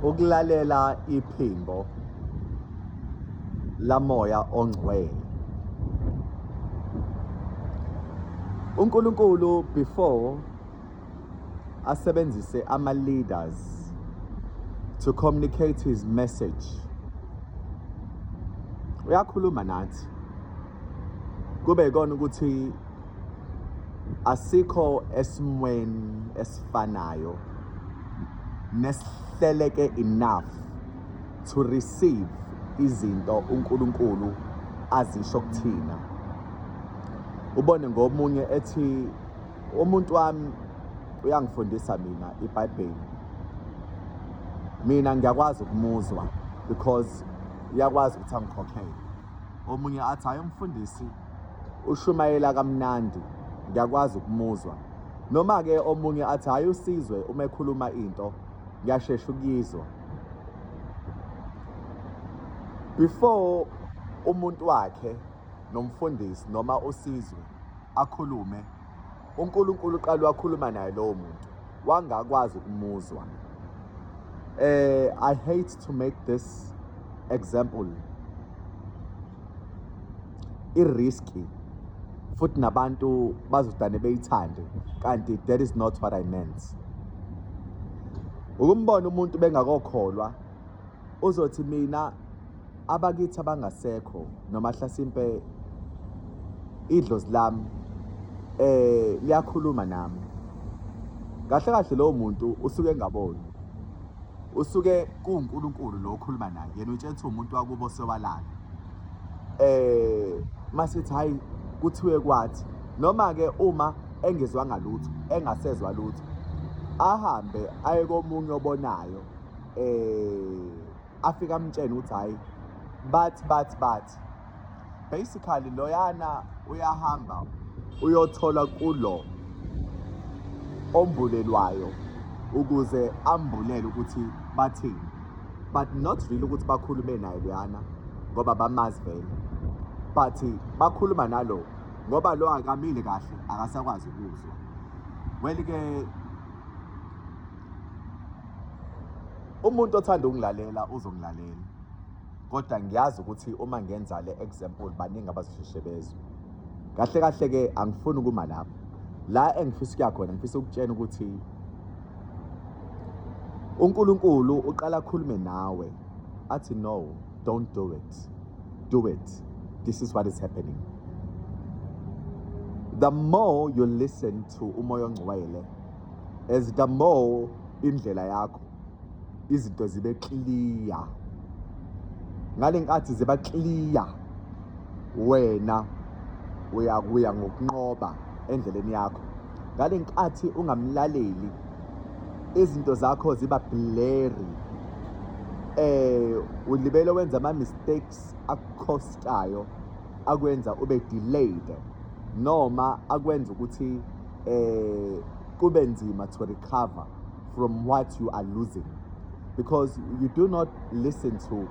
ukulalela iphimbo lamoya ongcwele uNkulunkulu before asebenzise ama leaders to communicate his message uyakhuluma nathi kube ikona ukuthi asikho esimweni esifanayo nesihleleke enough to receive izinto uNkulunkulu azisho kuthina ubone ngomunye ethi umuntu wami uyangifundisa mina iBhayibheli mina ngiyakwazi ukumuzwa because uyakwazi ukuthi angikhokhele omunye athi hayi umfundisi Ushumayela kamnandi ngiyakwazi ukumuzwa. Noma ke omunye athi hayi usizwe uma ekhuluma into ngiyashesha ukuyizwa. Before umuntu wakhe nomfundisi noma usizwe akhulume uNkulunkulu uqala wakhuluma naye lowo muntu wangakwazi ukumuzwa eh i hate to make this example iriski futhi nabantu bazodane beyithande kanti that is not what i meant ukumbona umuntu bengakokholwa uzothi mina abakithi abangasekho noma hlasimpe idlozi lami eh liyakhuluma nami kahle kahle lowo muntu usuke engaboni usuke kuwuNkulunkulu lo okhuluma naye yena utshela ukuthi umuntu wakubo sewalala eh masithi hayi kuthiwe kwathi noma ke uma engezwanga lutho engasezwa lutho ahambe aye komunye obonayo eh afika amtshene ukuthi hayi but but but basically loyana uyahamba uyothola kulo ombulelwayo ukuze ambulele ukuthi bathini but not really ukuthi bakhulume naye loyana ngoba bamazi vele but bakhuluma nalo ngoba lo akamile kahle akasakwazi ukuzwa well-ke umuntu othanda ukungilalela uzongilalela kodwa ngiyazi ukuthi uma ngenza le example baningi abazosheshe bezwe kahle kahle ke angifuni ukuma lapho la engifisa ukuya khona ngifisa ukutshena ukuthi uNkulunkulu uqala akhulume nawe athi no don't do it do it this is what is happening the more you listen to umoya ongcwele as the more indlela yakho izinto zibe clear ngale nkathi ziba clear wena uyakuya ngokunqoba endleleni yakho ngale nkathi ungamlaleli izinto zakho ziba blurry eh ulibele wenza ama mistakes akhostayo akwenza ube delayed noma akwenza ukuthi eh kube nzima to recover from what you are losing because you do not listen to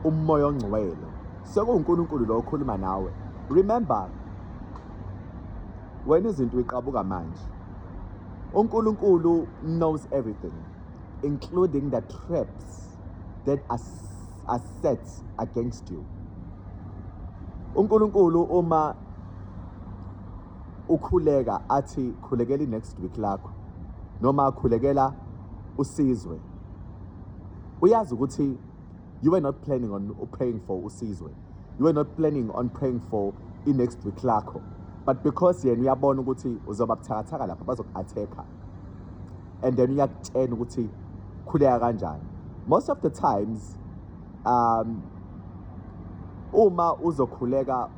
umoya ongcwele sekuwuNkulunkulu lo okhuluma nawe remember wena izinto uyiqabuka manje uNkulunkulu knows everything including the traps that are, are set against you uNkulunkulu uma ukhuleka athi khulekela i-next week lakho noma khulekela usizwe uyazi ukuthi you were not planning on praying for usizwe you were not planning on praying for i-next week lakho but because yena uyabona ukuthi uzoba buthakathaka lapha bazoku-attack-a and then uyakutshena ukuthi khuleka kanjani most of the times um uma uzokhuleka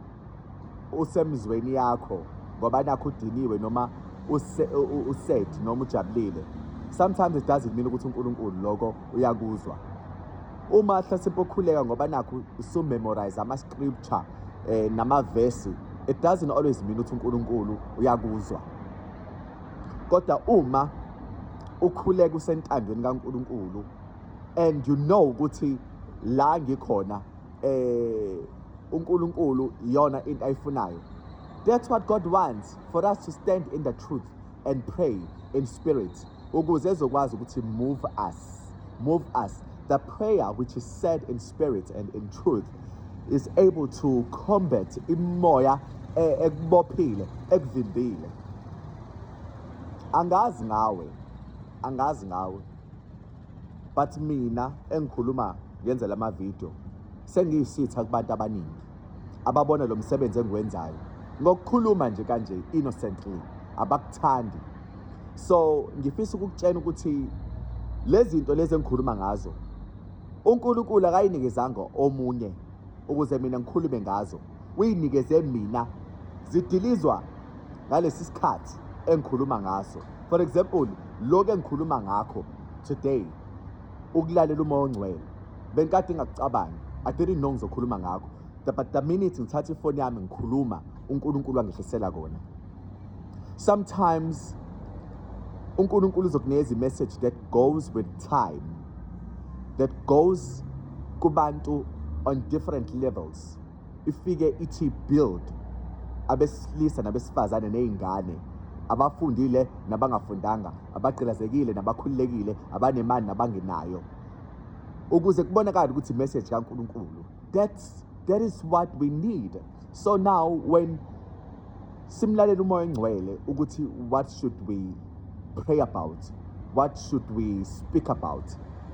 usemzweni yakho ngoba nakho udiniwe noma used noma ujabulile sometimes it doesn't mean ukuthi uNkulunkulu lokho uyakuzwa uma hlasimpe ukhuleka ngoba nakho usumemorize ama scripture eh namavesi it doesn't always mean ukuthi uNkulunkulu uyakuzwa kodwa uma ukhuleka usentandweni kaNkulunkulu and you know ukuthi la ngikhona eh uNkulunkulu iyona into ayifunayo that's what God wants for us to stand in the truth and pray in spirit ukuze ezokwazi ukuthi move us move us the prayer which is said in spirit and in truth is able to combat imoya eh, ekubophile ekuvimbile angazi ngawe angazi ngawe but mina engikhuluma ngenzela amavidiyo sengiyisitha kubantu abaningi ababona lo msebenzi engiwenzayo ngokukhuluma nje kanje innocently abakuthandi so ngifisa ukukutshena ukuthi lezi zinto lezi engikhuluma ngazo uNkulunkulu akayinikezanga omunye ukuze mina ngikhulume ngazo uyinikeze mina zidilizwa ngalesi sikhathi engikhuluma ngaso for example lokho engikhuluma ngakho today ukulalela umoya ongcwele benkade ngakucabanga i didn't know ngizokhuluma ngakho but the minute ngithatha ifoni yami ngikhuluma uNkulunkulu angehlisela kona sometimes uNkulunkulu uzokunikeza imessage that goes with time that goes kubantu on different levels ifike ithi build abesilisa nabesifazane nezingane abafundile nabangafundanga abagqilazekile nabakhululekile abanemali nabangenayo ukuze kubonakale ukuthi message kaNkulunkulu that's that is what we need so now when simlalele umoya engcwele ukuthi what should we pray about what should we speak about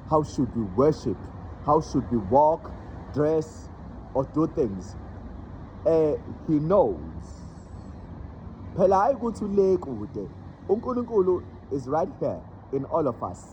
how should we worship how should we walk dress or do things eh he knows phela hayi ukuthi le kude uNkulunkulu is right here in all of us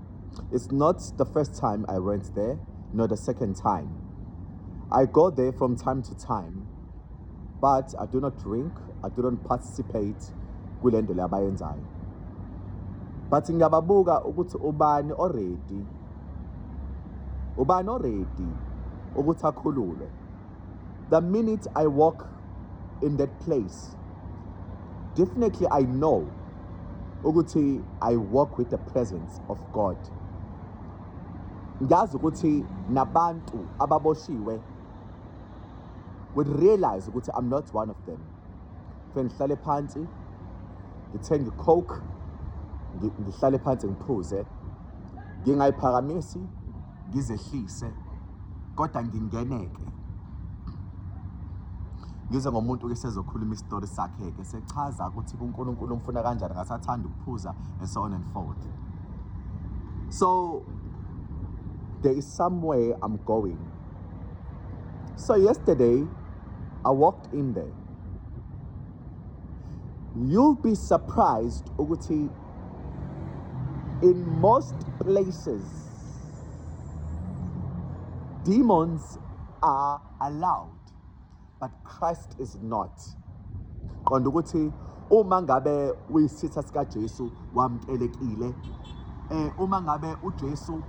It's not the first time I went there, nor the second time. I go there from time to time, but I do not drink, I do not participate kule nto le abayenzayo. But ngiyababuka ukuthi ubani already ubani already ukuthi akhululwe. The minute I walk in that place definitely i know ukuthi i walk with the presence of god ngiyazi ukuthi nabantu ababoshiwe would realize ukuthi i'm not one of them fe ngihlale phansi ngithenge icoke ngihlale phansi ngiphuze ngingayiphakamisi ngizehlise kodwa ngingeneke ngize ngomuntu ke sezokhuluma isitori sakhe ke sechaza ukuthi kuNkulunkulu umfuna kanjani ngasathanda ukuphuza and so on and forth so there is somewhere I'm going so yesterday I walked in there you'll be surprised ukuthi in most places Demons are allowed but Christ is not. Qonda ukuthi uma ngabe uyisitha sika Jesu wamkelekile eh uma ngabe uJesu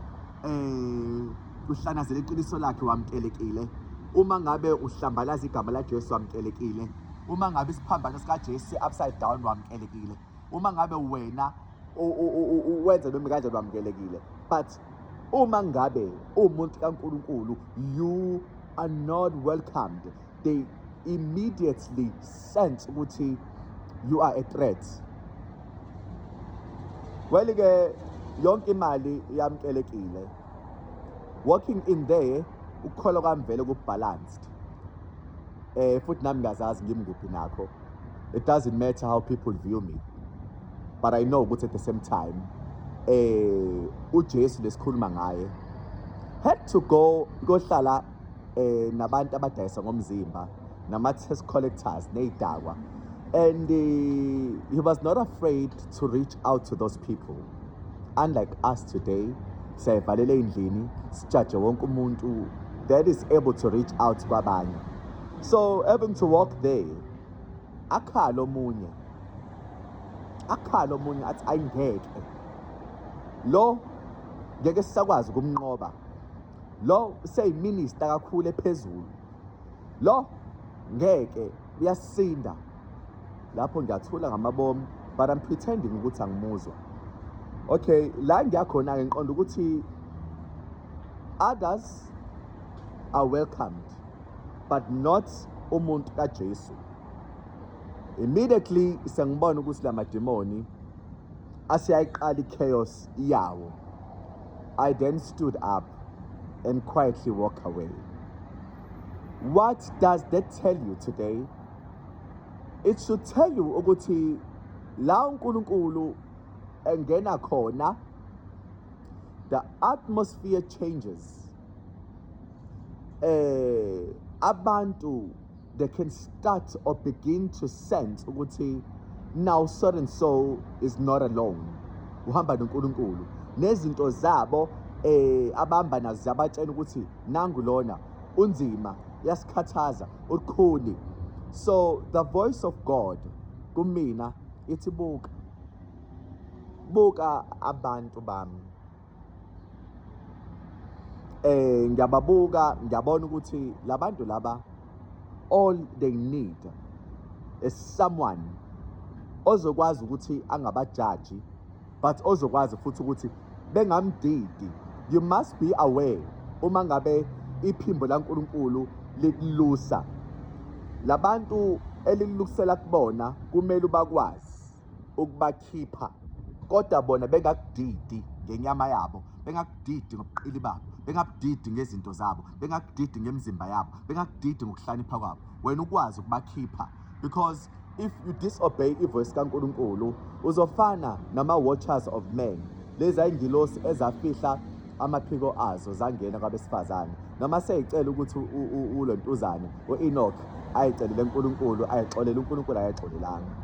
eh uhlanazela iqiniso lakhe wamkelekile uma ngabe uhlambalaza igama laJesu wamkelekile uma ngabe isiphambano sikaJesu upside down wamkelekile uma ngabe wena wenza noma kanje lwamukelekile but uma ngabe uwumuntu kaNkuluNkulu you are not welcomed they immediately sense ukuthi you are a threat well ke yonke imali yamkelekile working in there ukukholwa kwami vele ku-balanced eh futhi nami ngazazi ngimkuphi nakho it doesn't matter how people view me but i know ukuthi at the same time eh uJesu lesikhuluma ngaye had to go kohlala eh nabantu abadayisa ngomzimba nama tax collectors nezidakwa and uh, he was not afraid to reach out to those people unlike us today siyayivalela endlini sijaje wonke umuntu that is able to reach out kwabanye so having to walk there akhala omunye akhala omunye athi ayingeke lo ngeke sisakwazi ukumnqoba lo seyiminister kakhulu ephezulu lo ngeke uyasinda lapho ngiyathula ngamabomu but I'm pretending ukuthi angimuzwa okay la ngiyakhona-ke ngiqonda ukuthi others are welcomed but not umuntu kaJesu immediately sengibona ukuthi la mademoni asiyayiqala i-chaos yawo i then stood up and quietly walk away What does that tell you today? It should tell you ukuthi la uNkulunkulu engena khona the atmosphere changes. Eh abantu they can start or begin to sense ukuthi now so and so is not alone. Uhamba noNkulunkulu. Nezinto zabo eh abamba nazo ziyabatshela ukuthi nangu lona unzima yasikhathaza uqhuni so the voice of god kumina ithi buka buka abantu bami eh ngiyababuka ngiyabona ukuthi labantu laba all they need is someone ozokwazi ukuthi angabajaji but ozokwazi futhi ukuthi bengamdidi you must be aware uma ngabe iphimbo laNkulunkulu likulusa labantu elilukusela kubona kumele ubakwazi ukubakhipha kodwa bona bengakudidi ngenyama yabo bengakudidi ngobuqili babo bengakudidi ngezinto zabo bengakudidi ngemizimba yabo bengakudidi ngokuhlanipha kwabo wena ukwazi ukubakhipha because if you disobey ivoice kaNkulunkulu uzofana nama watchers of men lezi ayingilosi ezafihla amaphiko azo zangena kwabesifazane noma seyicela ukuthi ulontuzane uEnoch ayicelele uNkulunkulu ayixolele uNkulunkulu ayixolelanga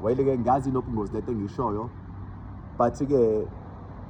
wayeleke ngazi nobungozi lento engishoyo but ke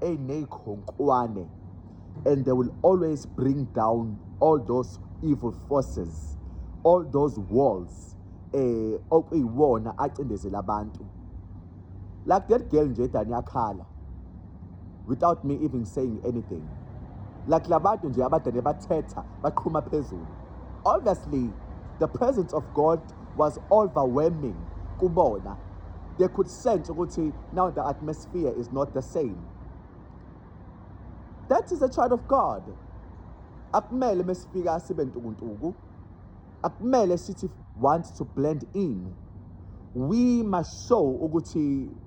eyiney'khonkwane and they will always bring down all those evil forces all those walls eh okuyiwona acindezela abantu like that girl nje dani yakhala without me even saying anything like labantu nje abadade bathetha baqhuma phezulu obviously the presence of god was overwhelming kubona they could sense ukuthi now the atmosphere is not the same that is a child of god akumele mesifika sibe ntukuntuku akumele sithi want to blend in we must show ukuthi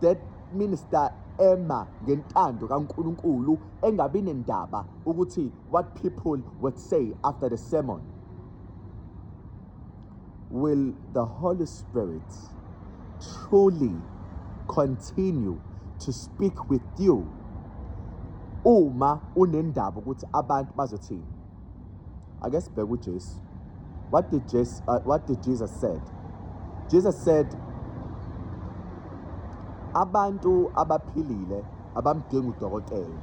That minister ema ngentando kaNkulunkulu engabi nendaba ukuthi what people would say after the sermon will the holy spirit truly continue to speak with you uma unendaba ukuthi abantu bazothini ake sibheke uJesu what did Jesus uh, what did Jesus said Jesus said abantu abaphilile abamdingi udokotela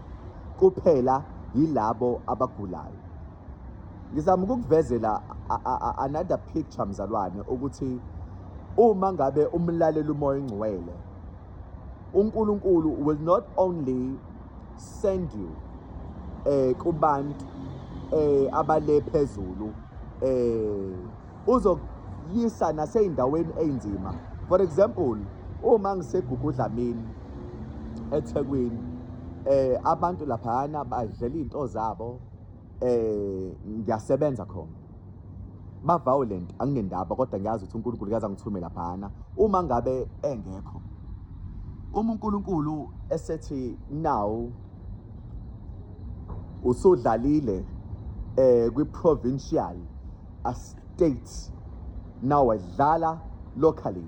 kuphela yilabo abagulayo ngizama ukukuvezela another picture mzalwane ukuthi uma ngabe umlalela umoya ingcwele uNkulunkulu will not only send you eh kubantu eh abale phezulu eh uzoyisa naseyindaweni einzima for example uma ngisegugudla mina eThekwini eh abantu laphana badlela izinto zabo eh ngiyasebenza khona ba violent anginendaba kodwa ngiyazi ukuthi uNkulunkulu uyaza ngithumela phana uma ngabe engekho uma uNkulunkulu esethi now usudlalile eh kwi provincial a state now wadlala locally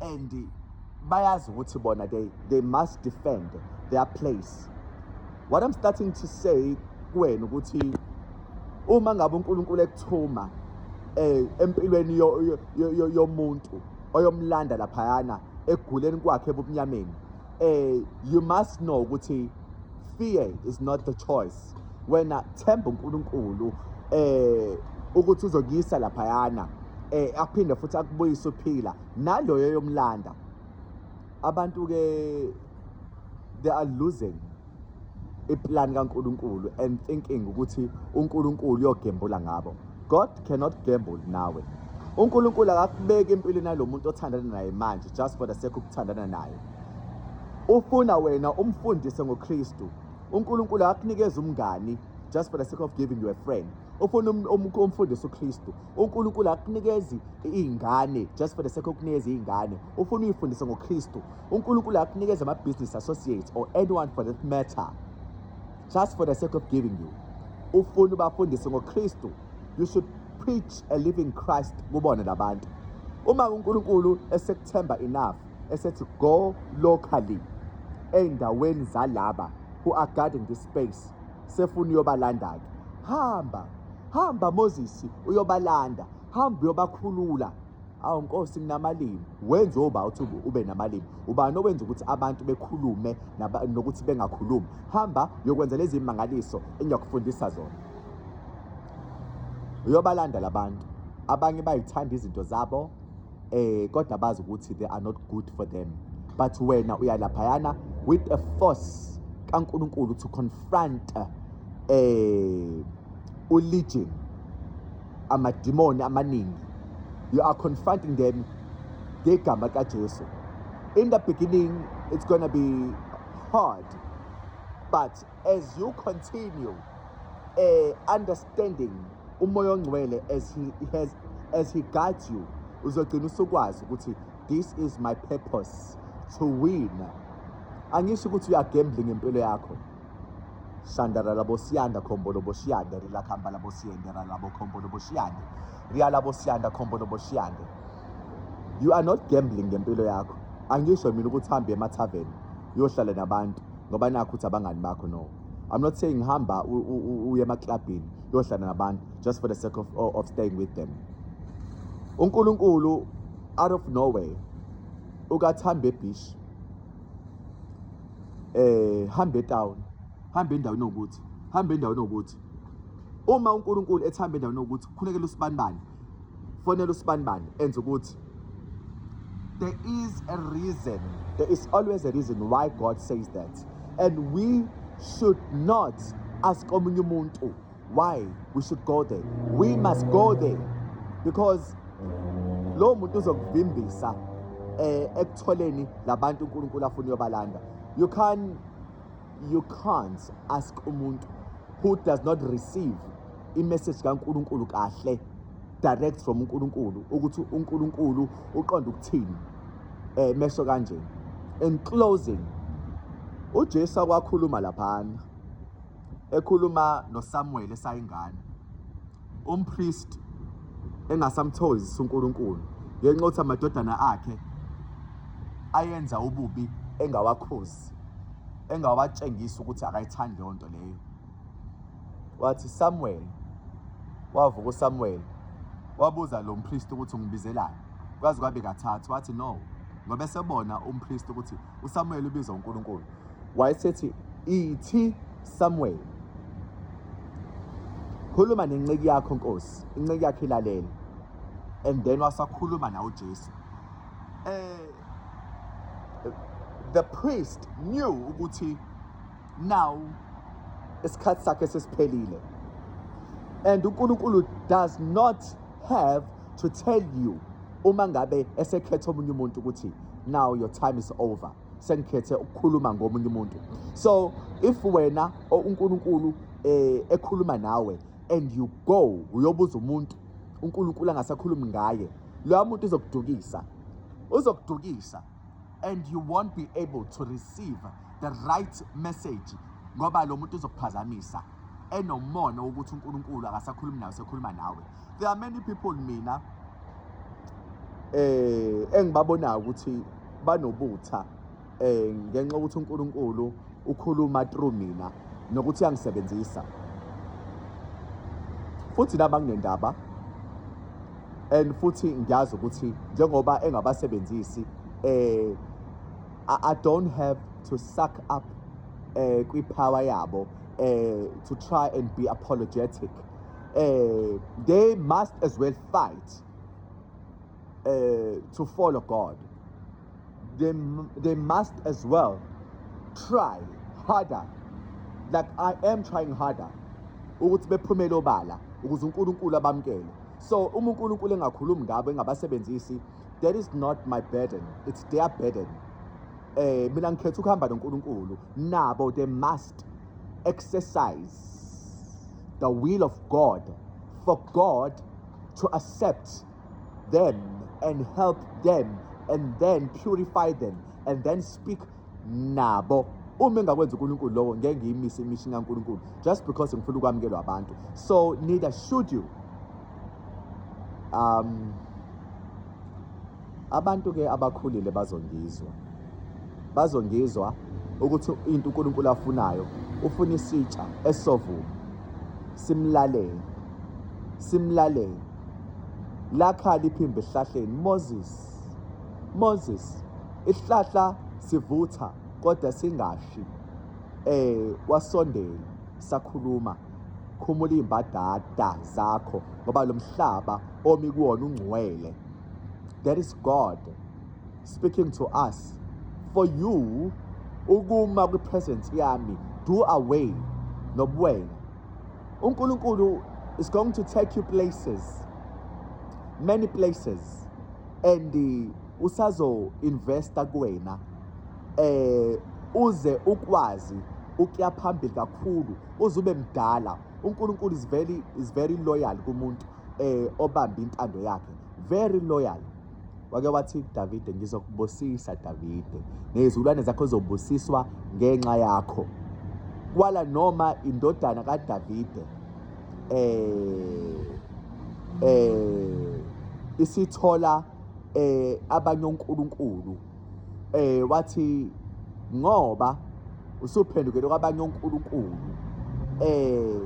and bayazi ukuthi bona they, they must defend their place what i'm starting to say kuwena ukuthi uma ngabe unkulunkulu ekuthuma um empilweni yomuntu oyomlanda laphayana eguleni kwakhe ebumnyameni um you must know ukuthi fear is not the choice wena themba uNkulunkulu eh ukuthi uzokuyisa laphayana eh aphinde futhi akubuyise uphila naloyo yomlanda abantu ke they are losing iplan kaNkuluNkulu and thinking ukuthi uNkuluNkulu uyogembula ngabo God cannot gamble nawe uNkuluNkulu akakubeki empilweni yalomuntu othandana naye manje just for the sake ukuthandana naye ufuna wena umfundise ngoKristu uNkulunkulu akunikeza umngani just for the sake of giving you a friend ufuna um, um, umfundisi uKristu uNkulunkulu akunikezi izingane just for the sake of kunikeza izingane ufuna uyifundise ngoKristu uNkulunkulu akunikeze ama business associates or anyone for that matter just for the sake of giving you ufuna ubafundise ngoKristu you should preach a living Christ kubona labantu uma uNkulunkulu esekuthemba enough esethi go locally ey'ndaweni zalaba who are guarding this space sefuna uyobalanda-ke hamba hamba moses uyobalanda hamba uyobakhulula awu nkosi nginamalimi wenze oba uthi ube namalimi ubani owenza ukuthi abantu bekhulume nokuthi bengakhulumi hamba uyokwenza lezi mangaliso engiyakufundisa zona uyobalanda labantu abanye bayithanda izinto zabo eh kodwa bazi ukuthi they are not good for them but wena uya laphayana with a force kaNkuluNkulu to confront eh u legion amadimoni amaningi you are confronting them ngegama kaJesu in the beginning it's going to be hard but as you continue uh, understanding umoya ongcwele as he has as he guides you uzogcina usukwazi ukuthi this is my purpose to win angisho ukuthi uyagambling impilo yakho shandara labo siyanda khombo lobo shiyande rilakhamba labo siyendera labo khombo lobo shiyande riya labo siyanda khombo lobo shiyande you are not gambling ngempilo yakho angisho mina ukuthi hambe emathaveni uyohlala nabantu ngoba nakho ukuthi abangani bakho no I'm not saying hamba uye emaklabhini yohlala nabantu just for the sake of, of staying with them uNkulunkulu out of nowhere ukathamba ebeach eh hamba etown hamba endaweni okuthi hamba endaweni okuthi uma uNkulunkulu ethamba endaweni okuthi khulekela usibanibani fonela usibanibani enza ukuthi there is a reason there is always a reason why god says that and we should not ask omunye umuntu why we should go there we must go there because lowo muntu uzokuvimbisa eh ekutholeni labantu uNkulunkulu afuna uyobalanda you can you can't ask umuntu who does not receive imessage kaNkuluNkulu kahle direct from uNkuluNkulu ukuthi uNkuluNkulu uqonda ukuthini eh mesho kanje in closing uJesu akwakhuluma laphana ekhuluma noSamuel esayingane umpriest engasamthokozisa uNkulunkulu ngenxa yokuthi amadodana akhe ayenza ububi engawakhozi Mfundisi engabatshengisa ukuthi akayithandi leyo nto leyo wathi Samuel wavuka uSamuel wabuza lo mpriest ukuthi ungibizelani kwazi kwabe kathathu wathi no ngoba esebona umpriest ukuthi uSamuel ubiza uNkulunkulu wayesethi ithi Samuel khuluma nenceku yakho Nkosi inceku yakhe ilalele and then wasakhuluma nawo Jesu eh the priest knew ukuthi now isikhathi sakhe sesiphelile and uNkulunkulu does not have to tell you uma ngabe esekhetha omunye umuntu ukuthi now your time is over sengikhethe ukukhuluma ngomunye umuntu so if wena uNkulunkulu eh ekhuluma nawe and you go uyobuza umuntu uNkulunkulu angasakhulumi ngaye loya muntu uzokudukisa uzokudukisa and you won't be able to receive the right message ngoba lo muntu uzokuphazamisa enomona wokuthi uNkulunkulu akasakhulumi nawe sekhuluma nawe there are many people mina eh engibabonayo ukuthi banobutha eh ngenxa ukuthi uNkulunkulu ukhuluma through mina nokuthi yangisebenzisa futhi naba nginendaba and futhi ngiyazi ukuthi njengoba engabasebenzisi eh I don't have to suck up eh kwi power yabo eh to try and be apologetic eh they must as well fight uh, to follow God, they, they must as well try harder like I am trying harder ukuthi bephumele obala ukuze uNkulunkulu abamkele so uma uNkulunkulu engakhulumi ngabo engabasebenzisi that is not my burden it's their burden eh mina ngikhetha ukuhamba noNkulunkulu nabo they must exercise the will of God for God to accept them and help them and then purify them and then speak nabo uma engakwenza uNkulunkulu lowo ngeke ngiyimise imishini kaNkulunkulu just because ngifuna ukwamukelwa abantu so neither should you um abantu ke abakhulile bazongizwa bazongizwa ukuthi into uNkulunkulu afunayo ufuna isitsha esovuma simlalele simlalele lakhala iphimbo esihlahleni moses moses isihlahla sivutha kodwa singashi eh wasondela sakhuluma khumula imbadada zakho ngoba lo mhlaba omi kuwona ungcwele that is god speaking to us for you ukuma kwi-presence yami do away nobuwena uNkulunkulu is going to take you places many places and uh, usazo investa kuwena eh uze ukwazi ukuya phambili kakhulu uze ube mdala uNkulunkulu is very is very loyal kumuntu eh obambe intando yakhe very loyal wake wathi Davide ngizokubusisa Davide nezulwane zakho zobusiswa ngenxa yakho kwala noma indodana kaDavide eh eh isithola eh abanye onkulunkulu eh wathi ngoba usuphendukele kwabanye onkulunkulu eh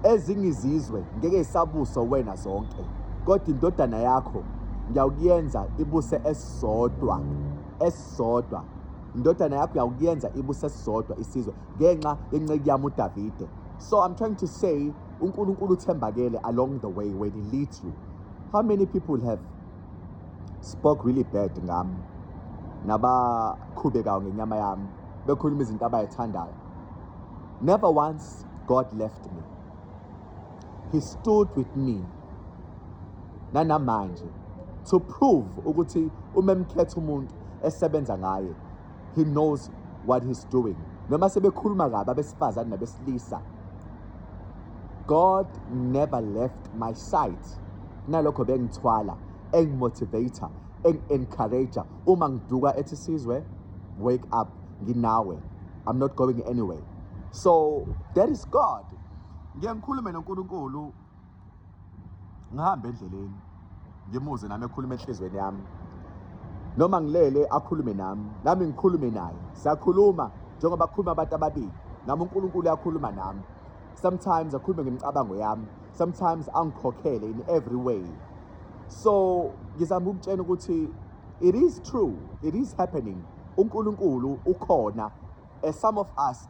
ezinye izizwe ngeke isabuso wena zonke kodwa indodana yakho ngiyawukuyenza ibuse esisodwa esisodwa indodana yakho uyawukuyenza ibuse esisodwa isizwe ngenxa yenceku yami udavide so i'm trying to say unkulunkulu uthembakele along the way when he leads you how many people have spoke really bad ngami nabaqhubekayo ngenyama yami bekhuluma izinto abayithandayo never once god left me he stood with me nanamanje to prove ukuthi umemkhetha umuntu esebenza ngaye he knows what he's doing noma sebekhuluma kabi abesifazane nabesilisa god never left my side nalokho bengithwala engimotivator eng-encourager uma ngiduka ethi sizwe wake up nginawe i'm not going anyway so that is god ngiye ngikhulume nonkulunkulu ngihambe endleleni ngimuze nami ekhuluma enhlizweni yami noma ngilele akhulume nami nami ngikhulume naye siyakhuluma njengoba kukhuluma abantu ababili nami uNkulunkulu uyakhuluma nami sometimes akhulume ngemicabango yami sometimes angikhokhele in every way so ngizama ukutshena ukuthi it is true it is happening uNkulunkulu ukhona as some of us